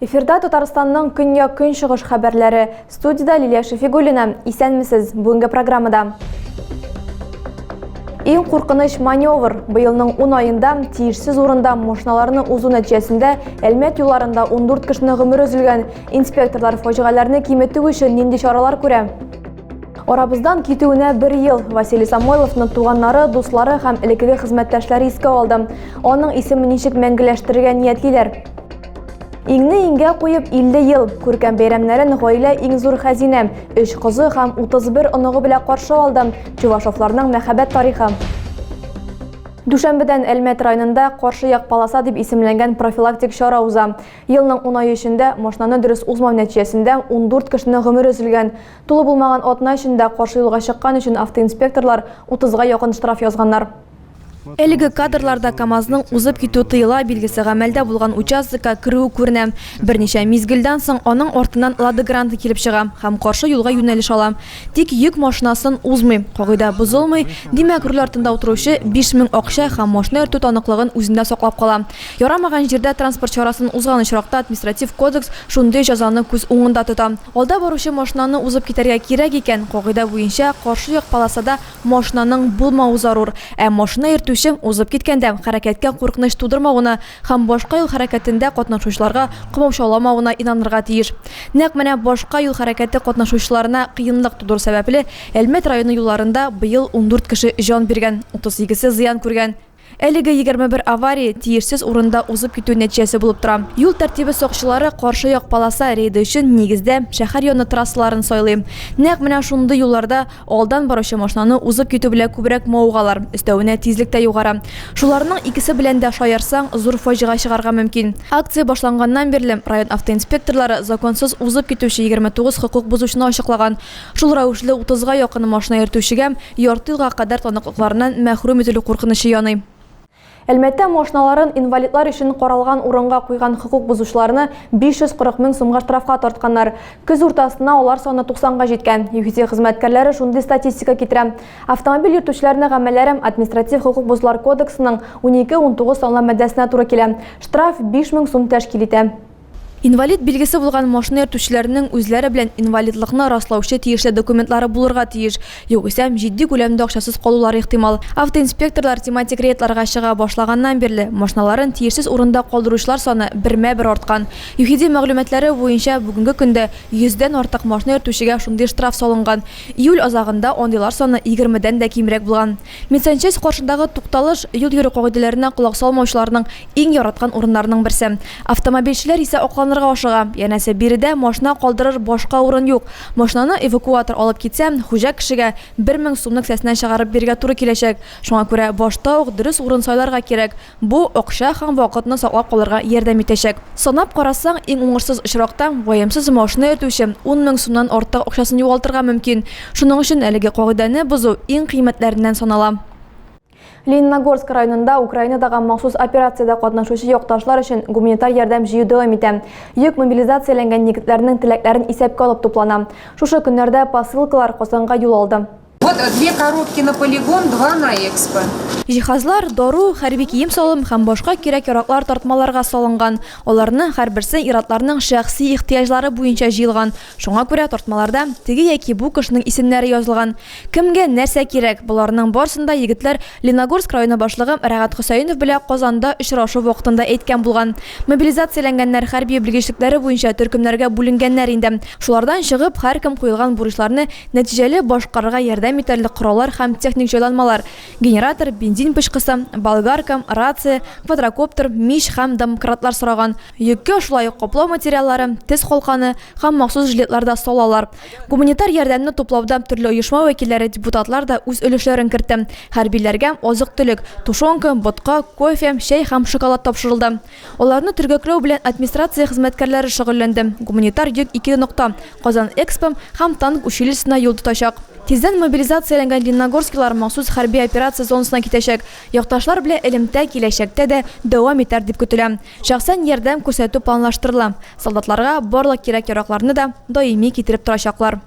Эфирда Татарстанның көньяк көнчыгыш хәбәрләре. Студида Лилия Шефигулина. Исәнмесез. Бүгенге программада. Иң куркыныч маневр быелның 10 аенда тиешсез урында машиналарны узу нәтиҗәсендә Әлмәт юлларында 14 кешенең гомере өзелгән. Инспекторлар фаҗигаләрне киметү өчен нинди чаралар күрә? Арабыздан китүенә бер ел Василий Самойловны туганнары, дуслары һәм элекеге хезмәттәшләре искә алды. Аның исемен ничек мәңгеләштерергә ниятлиләр? Иңне иңгә куеп 50 ел күркәм бәйрәмнәрен гаилә иң зур хәзинә, өч кызы һәм 31 оныгы белән каршы алды. Чувашовларның мәхәббәт тарихы. Дүшәмбедән Әлмәт районында каршы як полоса дип исемләнгән профилактик чара уза. Елның ун ае эчендә машинаны дөрес узмау нәтиҗәсендә ундүрт кешенең гомере өзелгән. Тулы булмаган атна эчендә каршы юлга чыккан өчен автоинспекторлар утызга якын штраф язганнар. Әлеге кадрларда КАМАЗның узып китү тыела билгесе гамәлдә булган участокка керүе күренә. Берничә мизгелдән соң аның артыннан Лада Гранта килеп чыга һәм каршы юлга юнәлеш ала. Тик йөк машинасын узмый, кагыйдә бозылмый, димәк, руль артында утыручы 5000 акча һәм машина йөртү таныклыгын үзендә саклап кала. Ярамаган җирдә транспорт чарасын узган очракта Административ кодекс шундый җәзаны күз уңында тота. Алда баручы машинаны узып китәргә кирәк икән, кагыйдә буенча каршы як полосада машинаның булмавы зарур, ә машина йөртүче узып киткәндә хәрәкәткә куркыныч тудырмавына Һәм башка юл хәрәкәтендә катнашучыларга комачауламавына инанырга тиеш. Нәкъ менә башка юл хәрәкәте катнашучыларына кыенлык тудыру сәбәпле, Әлмәт районы юлларында быел ундүрт кеше җан биргән, утызсигезсе зыян күргән. Әлеге егерме бер авария тиешсез урында узып китү нәтиҗәсе булып тора. Юл тәртибе сакчылары каршы як полоса рейды өчен, нигездә, шәһәр яны трассаларын сайлый. Нәкъ менә шундый юлларда Алдан баручы машинаны узып китү белән күбрәк мавыгалар, өстәвенә тизлек тә югары. Шуларның икесе белән дә шаярсаң, зур фаҗига чыгарга мөмкин. Акция башланганнан бирле район автоинспекторлары законсыз узып китүче 29 хокук бозучыны ачыклаган. Шул рәвешле утызга якын машина йөртүчегә ярты елга кадәр таныклыкларыннан мәхрүм ителү куркынычы яный. Әлмәттә машиналарын инвалидлар өчен каралган урынга куйган хокук бозучыларны 540 мең сумга штрафка тартканнар. Көз уртасына алар саны 90 га җиткән. ЮХИДИ хезмәткәрләре шундый статистика китерә. Автомобиль йөртүчеләрнең гамәлләре Административ хокук бозулар кодексының 12-19 санлы маддәсенә туры килә. Штраф 5 мең сум тәшкил итә. Инвалид билгесе булган машина йөртүчеләрнең үзләре белән инвалидлыкны раслаучы тиешле документлары булырга тиеш, югыйсәм, җитди күләмдә акчасыз калулары ихтимал. Автоинспекторлар тематик рейдларга чыга башлаганнан бирле, машиналарын тиешсез урында калдыручылар саны бермә-бер арткан. ЮХИДИ мәгълүматлары буенча, бүгенге көндә йөздән артык машина йөртүчегә шундый штраф салынган. Июль азагында андыйлар саны егермедән дә кимрәк булган. Медсанчасть каршындагы тукталыш, юл йөрү кагыйдәләренә колак салмаучыларның иң яраткан урыннарының берсе. Автомобильчеләр исә акланырга ашыга, янәсе, биредә машина калдырыр башка урын юк. Машинаны эвакуатор алып китсә, хуҗа кешегә бер мең сумны кесәсеннән чыгарып бирергә туры киләчәк. Шуңа күрә башта ук дөрес урын сайларга кирәк, Бу, акча һәм вакытны саклап калырга ярдәм итәчәк. Санап карасаң, иң уңышсыз очракта, ваемсыз машина йөртүче ун мең сумнан артык акчасын югалтырга мөмкин. Шуның өчен әлеге кагыйдәне бозу иң кыйммәтләреннән санала. Лениногорск районында Украинадагы махсус операциядә катнашучы якташлар өчен гуманитар ярдәм җыю дәвам итә. Йөк мобилизацияләнгән егетләрнең теләкләрен исәпкә алып туплана. Шушы көннәрдә посылкалар Казанга юл алды. Вот две коробки на полигон, два на экспо. Җиһазлар, дару, хәрби кием-салым һәм башка кирәк-яраклар тартмаларга салынган. Аларның һәрберсе ир-атларның шәхси ихтыяҗлары буенча җыелган. Шуңа күрә тартмаларда теге яки бу кешенең исемнәре язылган. Кемгә нәрсә кирәк, боларның барысын да егетләр Леногорск районы башлыгы Рәгат Хөсәенов белән Казанда очрашу вакытында әйткән булган. Мобилизацияләнгәннәр хәрби белгечлекләре буенча төркемнәргә бүленгәннәр инде. Шулардан чыгып, һәркем куелган бурычларны Нәтиҗәле башкарырга ярдәм итәрлек кораллар һәм техник җайланмалар, генератор, бензин пычкысы, болгарка, рация, квадрокоптер, мич һәм домкратлар сораган. Йөккә шулай ук каплау материаллары, тез калканы һәм махсус жилетлар да салалар. Гуманитар ярдәмне туплауда төрле оешма вәкилләре, депутатлар да үз өлешләрен кертте. Хәрбиләргә азык-төлек, тушенка, ботка, кофе, чәй һәм шоколад тапшырылды. Аларны төргәкләү белән администрация хезмәткәрләре шөгыльләнде. Гуманитар йөк ике нокта, Казан Экспо һәм Танк училищесына юл тотачак. Тиздән мобилизацияләнгән лениногорскилар махсус хәрби операция зонасына китәчәк. Якташлар белән элемтә киләчәктә дә дәвам итәр дип көтелә. Шәхсән ярдәм күрсәтү планлаштырыла. Солдатларга барлык кирәк-яракларны да даими китереп торачаклар.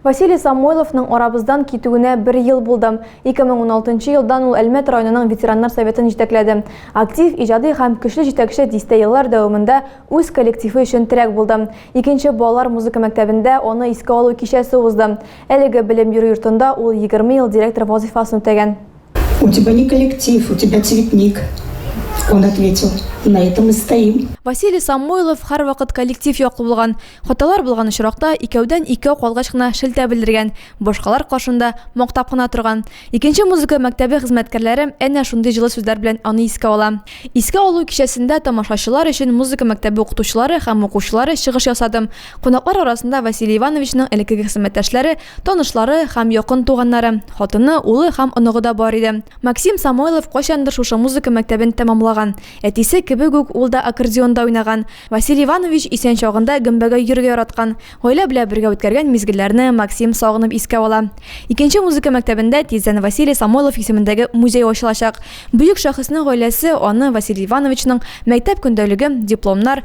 Василий Самойловның арабыздан китүенә бер ел булды. 2016 елдан ул Әлмәт районының ветераннар советын җитәкләде. Актив, иҗади һәм көчле җитәкче дистә еллар дәвамында үз коллективы өчен терәк булды. Икенче балалар музыка мәктәбендә аны искә алу кичәсе узды. Әлеге белем бирү йортында ул егерме ел директор вазыйфасын үтәгән. У тебя не коллектив, у тебя цветник. Он ответил, на этом и стоим. Василий Самойлов һәрвакыт коллектив яклы булган. Хаталар булган очракта икәүдән икәү калгач кына шелтә белдергән, башкалар каршында мактап кына торган. Икенче музыка мәктәбе хезмәткәрләре әнә шундый җылы сүзләр белән аны искә ала. Искә алу кичәсендә тамашачылар өчен музыка мәктәбе укытучылары һәм укучылары чыгыш ясадым. Кунаклар арасында Василий Ивановичның элеккеге хезмәттәшләре, танышлары һәм якын туганнары, хатыны, улы һәм оныгы да бар иде. Максим Самойлов кайчандыр шушы музыка мәктәбен тәмамлаган. Әтисе кебек үк ул да аккордеонда уйнаган. Василий Иванович исән чагында гөмбәгә йөрергә яраткан. Гаилә белән бергә үткәргән мизгелләрне Максим сагынып искә ала. Икенче музыка мәктәбендә тиздән Василий Самойлов исемендәге музей ачылачак. Бөек шәхеснең гаиләсе аны Василий Ивановичның мәктәп көндәлеге, дипломнар,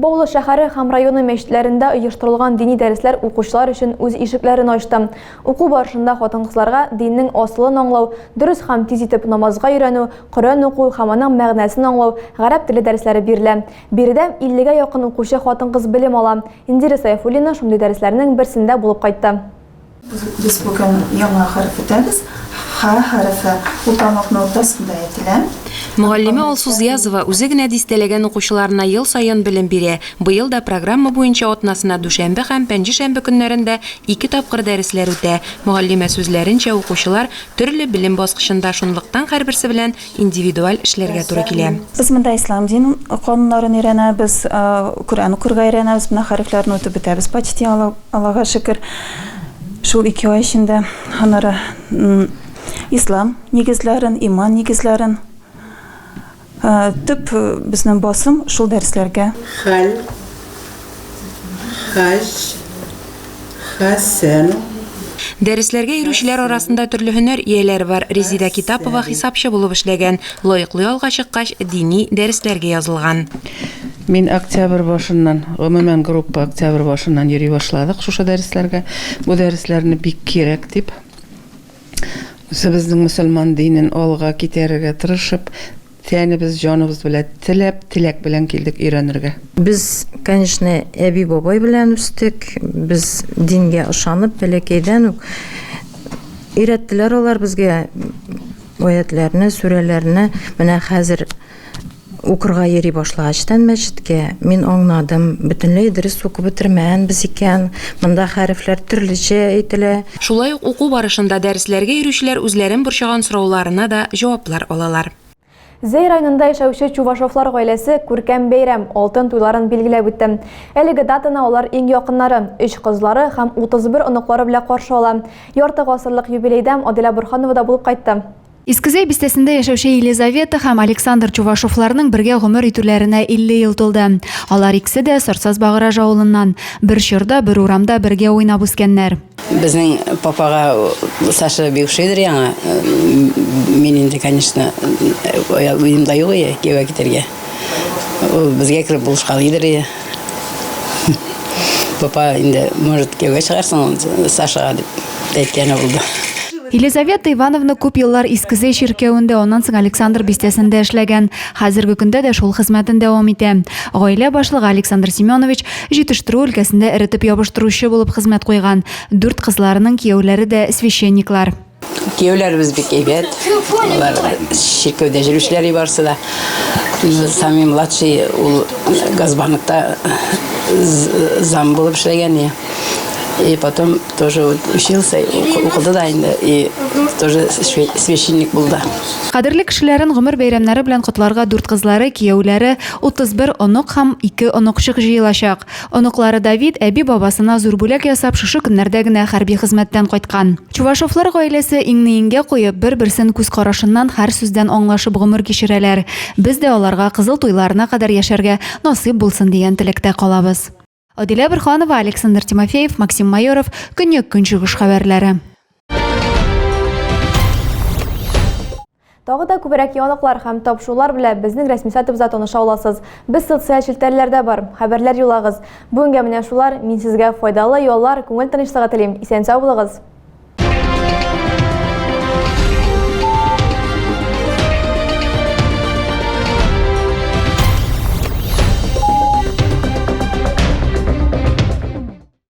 Баулы шәһәре һәм районы мәчетләрендә оештырылган дини дәресләр укучылар өчен үз ишекләрен ачты. Уку барышында хатын-кызларга диннең асылын аңлау, дөрес һәм тиз итеп намазга өйрәнү, Коръән уку һәм аның мәгънәсен аңлау, гарәп теле дәресләре бирелә. Биредә 50 гә якын укучы хатын-кыз белем ала. Индира Сәйфуллина шундый дәресләрнең берсендә булып кайтты. Без бүген яңа хәреф үтәбез. Ха хәрефе ул тармакның уртасында әйтелә. Мөгаллиме Алсу Зиязова үзе генә дистәләгән укучыларына ел саен белем бирә. Быел да программа буенча атнасына дүшәмбе һәм пәнҗешәмбе көннәрендә ике тапкыр дәресләр үтә. Мөгаллимә сүзләренчә, укучылар төрле белем баскычында, шунлыктан һәрберсе белән индивидуаль эшләргә туры килә. Без монда ислам дин кануннарын өйрәнәбез, Коръән укырга өйрәнәбез, менә хәрефләрне үтеп бетәбез почти, Аллага шөкер, шул ике ай эчендә. Аннары ислам нигезләрен, иман нигезләрен, төп безнең басым шул дәресләргә. Хәл. Хаҗ, Хәсән. Дәресләргә йөрүчеләр арасында төрле һөнәр ияләре бар. Резидә Китапова хисапчы булып эшләгән. Лаеклы ялга чыккач, дини дәресләргә язылган. Мин октябрь башыннан, гомумән, группа октябрь башыннан йөри башладык шушы дәресләргә. Бу дәресләрне бик кирәк дип, үзебезнең мөселман динен алга китерергә тырышып, Тәнебез, җаныбыз белән теләп, теләк белән килдек өйрәнергә. Без, конечно, әби-бабай белән үстек. Без дингә ышанып, бәләкәйдән үк өйрәттеләр алар безгә аятләрне, сүрәләрне. Менә хәзер укырга йөри башлагачтан мәчеткә мин аңнадым, бөтенләй дөрес укып бетермәгәнбез икән. Монда хәрефләр төрлечә әйтелә. Шулай ук уку барышында дәресләргә йөрүчеләр үзләрен борчыган сорауларына да җаваплар алалар. Зәй районында яшәүче Чувашовлар гаиләсе күркәм бәйрәм, Алтын туйларын билгеләп үтте. Әлеге датаны алар иң якыннары, өч кызлары һәм 31 оныклары белән каршы ала. Ярты гасырлык юбилейда Аделя Борһанова да булып кайтты. Искезәй бистәсендә яшәүче Елизавета һәм Александр Чувашовларның бергә гомер итүләренә 50 ел тулды. Алар икесе дә Сарсаз-Багыраж авылыннан. Бер чорда, бер урамда бергә уйнап үскәннәр. Безнең папага Саша бик ошыйдыр яңа. Мин инде, конечно, уемда юк иде кияүгә китәргә. Ул безгә кереп булышкалыйдыр иде. Папа инде, может, кияүгә чыгарсың Сашага дип әйткәне булды. Елизавета Ивановна күп еллар Искезе чиркәвендә, аннан соң Александр бистәсендә эшләгән. Хәзерге көндә дә шул хезмәтен дәвам итә. Гаилә башлыгы Александр Семенович җитештерү өлкәсендә эретеп ябыштыручы булып хезмәт куйган. Дүрт кызларының кияүләре дә священниклар. Кияүләребез бик әйбәт. Алар чиркәүдә җөрүчеләр барысы да. Самый младший ул Газбаныкта зам булып эшләгән я. И потом тоже вот учился, укыды да инде, и тоже священник булды. Кадерле кешеләрен гомер бәйрәмнәре белән котларга дүрт кызлары, кияүләре, 31 онок һәм 2 оныкчык җыелачак. Оныклары Давид, әби-бабасына зур бүләк ясап, шушы көннәрдә генә хәрби хезмәттән кайткан. Чувашовлар гаиләсе иңне иңгә куеп, бер-берсен күз карашыннан, һәр сүздән аңлашып гомер кичерәләр. Без дә аларга кызыл туйларына кадәр яшәргә насыйп булсын дигән теләктә калабыз. Адилә Борһанова, Александр Тимофеев, Максим Майоров, Көньяк-Көнчыгыш хәбәрләре. Тагы да күбрәк яңалыклар һәм тапшырулар белә безнең рәсми сайтыбызда таныша аласыз. Без социаль челтәрләрдә бар, хәбәрләр юллагыз. Бүгенгә менә шулар, мин сезгә файдалы яллар, күңел тынычлыгы телим, исән-сау булыгыз!